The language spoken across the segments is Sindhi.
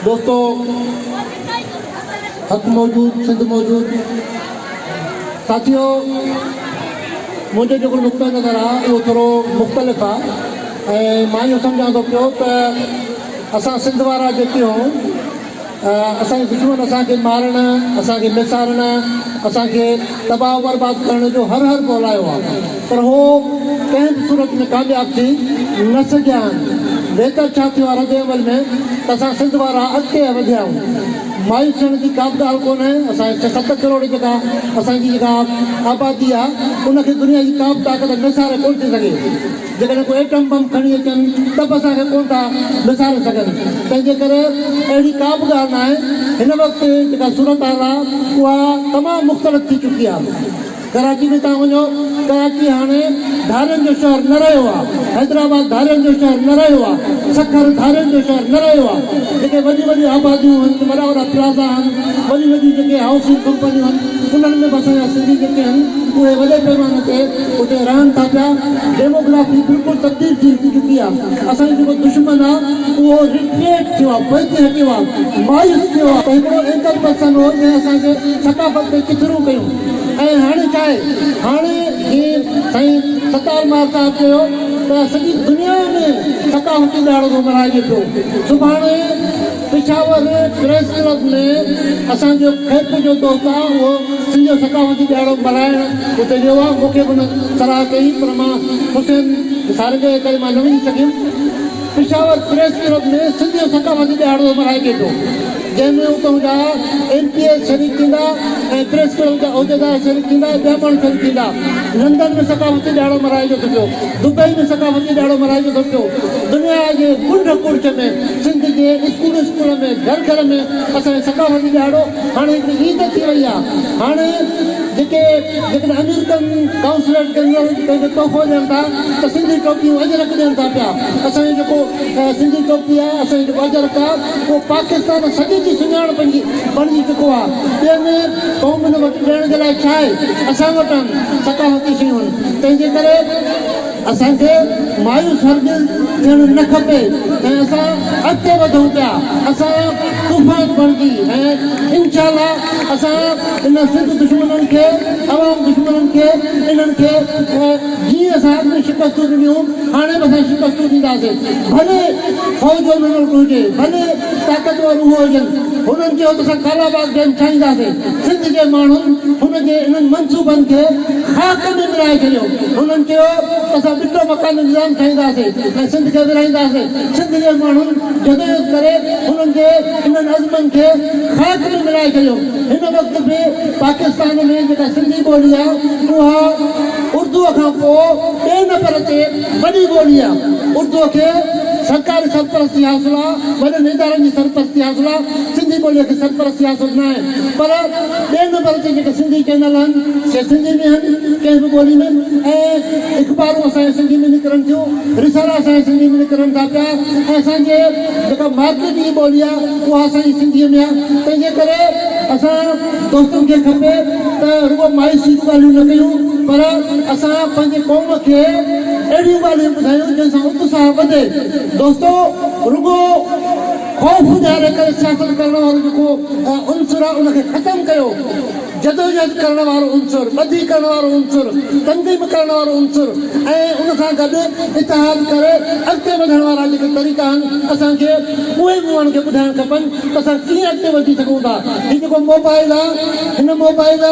دوستو حق موجود سنڌ موجود ساٿيو منهنجو جيڪو نقطه نظر آ اهو ٿورو مختلف آ ۽ مان اهو سمجهان ٿو پيو ته اسان سنڌ وارا جيڪي هئون اسان جي دشمن اسان کي مارڻ، اسان کي ميسارڻ، اسان کي تباهه و برباد ڪرڻ جو هر هر ڪولايو آ، پر هو ڪنهن به صورت ۾ ڪامياب ٿي نه سگهيا آهن. ويتر ڇا ٿيو آ رد عمل ۾ ته اسان سنڌ وارا اڳتي هه وڌيا آهيون. مايوس ٿيڻ جي ڪا به ڳالهه ڪونهي. اسان جي ڇهه ست ڪروڙ جيڪا اسان جي جيڪا آبادي آ ان کي دنيا جي ڪا به طاقت ميساري ڪونه ٿي سگهي. جيڪڏهن ڪو ايٽم بم کڻي اچن ته به اسان کي ڪونه ٿا وساري سگهن، تنهنجي ڪري اهڙي ڪا به ڳالهه ناهي، هن وقت جيڪا صورتحال آ اها تمام مختلف ٿي چڪي آ، ڪراچي ۾ توهان وڃو ڪراچي هاڻي ڌارين جو شهر نه رهيو آ، حيدرآباد ڌارين جو شهر نه رهيو آ، سکر ڌارين جو شهر نه رهيو آ، جيڪي وڏيون وڏيون آباديون هن، وڏا وڏا پلازا هن، وڏيون وڏيون جيڪي هائوسنگ ڪمپنيون هن، انهن ۾ به اسان جا سنڌي جيڪي هن اهي وڏي پيماني تي اتي رهن ٿا پيا، ڊيموگرافي بلڪل تبديل ٿي چڪي آ، اسان جو جيڪو دشمن آ اهو ريٽريٽ ٿيو آ، پوئتي هٽيو آ، مايوس ٿيو آ. ته هڪڙو اينڪر پرسن هو جنهن اسان جي ثقافت تي ڪچھرون ڪيون ۽ هاڻي ڇا آهي هاڻي جيئن سائين ستار مار صاحب چيو ته سڄي دنيا ۾ ثقافتي ڏهاڙو ٿو ملهائجي پيو سڀاڻي پشاور پريس ڪلب ۾ اسان جو کيپ جو دوست آ اهو سنڌ جو ثقافتي ڏهاڙو ملهائڻ اتي ويو آ مون کي به ان صلاح ڪئي پر مان حسين سارنگيء جي ڪري مان نه وڃي سگهيم پشاور پريس ڪلب ۾ سنڌ جو ثقافتي ڏهاڙو ملهائجي ٿو جنهن ۾ اتون جا ايم پي ايس شريڪ ٿيندا ۽ پريس ڪلب جا عهديدار شريڪ ٿيندا ٻيا ماڻهو شريڪ ٿيندا لندن ۾ ثقافتي ڏهاڙو ملهائجي ٿو پيو دبئي ۾ ثقافتي ڏهاڙو ملهائجي ٿو پيو دنيا جي ڪنڊ ڪڙڇ ۾ سنڌ جي اسڪول اسڪول ۾ گهر گهر ۾ اسان جو ثقافتي ڏهاڙو هاڻي هڪڙي عيد ٿي وئي آهي هاڻي جيڪي جيڪڏهن امريڪن ڪانسليٽ جنرل پنهنجو تحفو ڏين ٿا ته سنڌي ٽوپيون اجرڪ ڏين ٿا پيا اسان جو جيڪو سنڌي ٽوپي آهي اسان جو جيڪو اجرڪ آهي اهو پاڪستان سڄي جي سڃاڻپ جي بڻجي چڪو آهي ٻين قومن وٽ ڏيڻ جي لاء ڇا آهي اسان وٽ آهن ثقافتي شيون تنهن جي ڪري اسان کي مايوس هرگز ٿيڻ نه کپي ۽ اسان اڳتي وڌون پيا، اسان طوفان بڻجي ۽ انشاءالله اسان ان سنڌ دشمنن کي، عوام دشمنن کي، انهن کي جيئن اسان اڳ ۾ شڪستون ڏنيون هاڻي به اسان شڪستون ڏينداسين ڀلي فوج جو ملڪ هجي، ڀلي طاقتور اهو هجن، هنن چيو ته اسان ڪالاباغ ڊيم ٺاهينداسين. سنڌ جي ماڻهن هن جي انهن منصوبن کي خاڪ ۾ ملائي ڇڏيو. هنن چيو ته اسان ٻٽو مڪاني نظام ٺاهينداسين ۽ سنڌ کي ورهائينداسين. سنڌ جي ماڻهن جدوجهد ڪري هنن جي انهن عزمن کي خاڪ ۾ ملائي ڇڏيو. هن وقت به پاڪستان ۾ جيڪا سنڌي ٻولي آهي اها اردوء کان پوء ٻئي نمبر تي وڏي ٻولي آهي. اردوء کي سرڪاري سرپرستي حاصل آهي، وڏن ادارن جي سرپرستي حاصل آهي، سنڌي ٻوليء کي سرپرستي حاصل ناهي. پر ٻئي نمبر تي جيڪي سنڌي چينل آهن سي سنڌي ۾ آهن ڪنهن به ٻولي ۾ ۽ اخبارون اسان جي سنڌي ۾ نڪرن ٿيون رسالا اسان جي سنڌي ۾ نڪرن ٿا پيا ۽ اسان جي جيڪا مارڪيٽ جي ٻولي آهي اها اسان جي سنڌي ۾ آهي تنهن جي ڪري اسان دوستن کي کپي ته رڳو مايوسي جون ڳالهيون نه ڪيون پر اسان پنهنجي قوم کي اهڙيون ڳالهيون ٻڌايون جن سان اتساهه وڌي دوستو رڳو خوف ڏياري ڪري سياست ڪرڻ وارو جيڪو عنصر آهي ان کي ختم ڪيو، جدوجهد ڪرڻ وارو عنصر، ٻڌي ڪرڻ وارو عنصر، تنظيم ڪرڻ وارو عنصر ۽ ان سان گڏ اتحاد ڪري اڳتي وڌڻ وارا جيڪي طريقا آهن اسان کي اهي مونهن کي ٻڌائڻ کپن ته اسان ڪيئن اڳتي وڌي سگهون ٿا. هي جيڪو موبائل آهي هن موبائل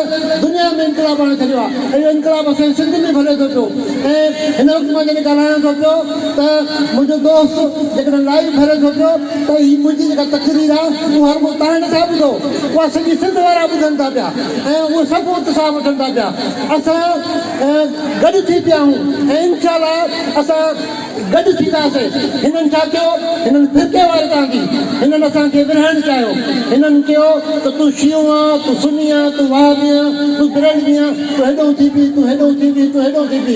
دنيا ۾ انقلاب آڻي ڇڏيو آهي ۽ اهو انقلاب اسان جي سنڌ ۾ به هلي ٿو پيو ۽ هن وقت مان جڏهن ڳالهايان ٿو پيو ته منهنجو دوست جيڪڏهن لائيو ڀري ٿو پيو ته هي منهنجي جيڪا تقرير آ اهو هر ڪو تان نٿا ٻڌو اها سڄي سنڌ وارا ٻڌن ٿا پيا ۽ اهو سڀ اتساهه وٺن ٿا پيا اسان گڏ ٿي پيا آهون ۽ انشاء الله اسان گڏ ٿينداسين هنن ڇا ڪيو هنن فرقي واري تان ٿي هنن اسان کي ورهائڻ چاهيو هنن چيو ته تون شيعو آن تون سني آن تون وهابي آن تون برلوي آن تون هيڏهون ٿي پي تون هيڏهون ٿي پي تون هيڏهون ٿي پي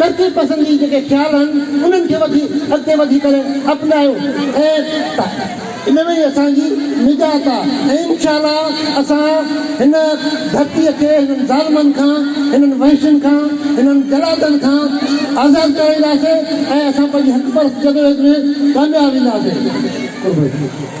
ترقي پسندي جيڪي خيال آهن انهن کي وٺي اڳتي وڌي ڪري اپنايو ۽ ان ۾ ئي اسان جي نجات آ ۽ انشاء الله اسان هن ڌرتي کي هنن ظالمن کان هنن وحشين کان هنن جلادن کان آزاد ڪرائينداسي ۽ اسان پنهنجي حق پرست جدوجهد ۾ ڪامياب وينداسي. قربان.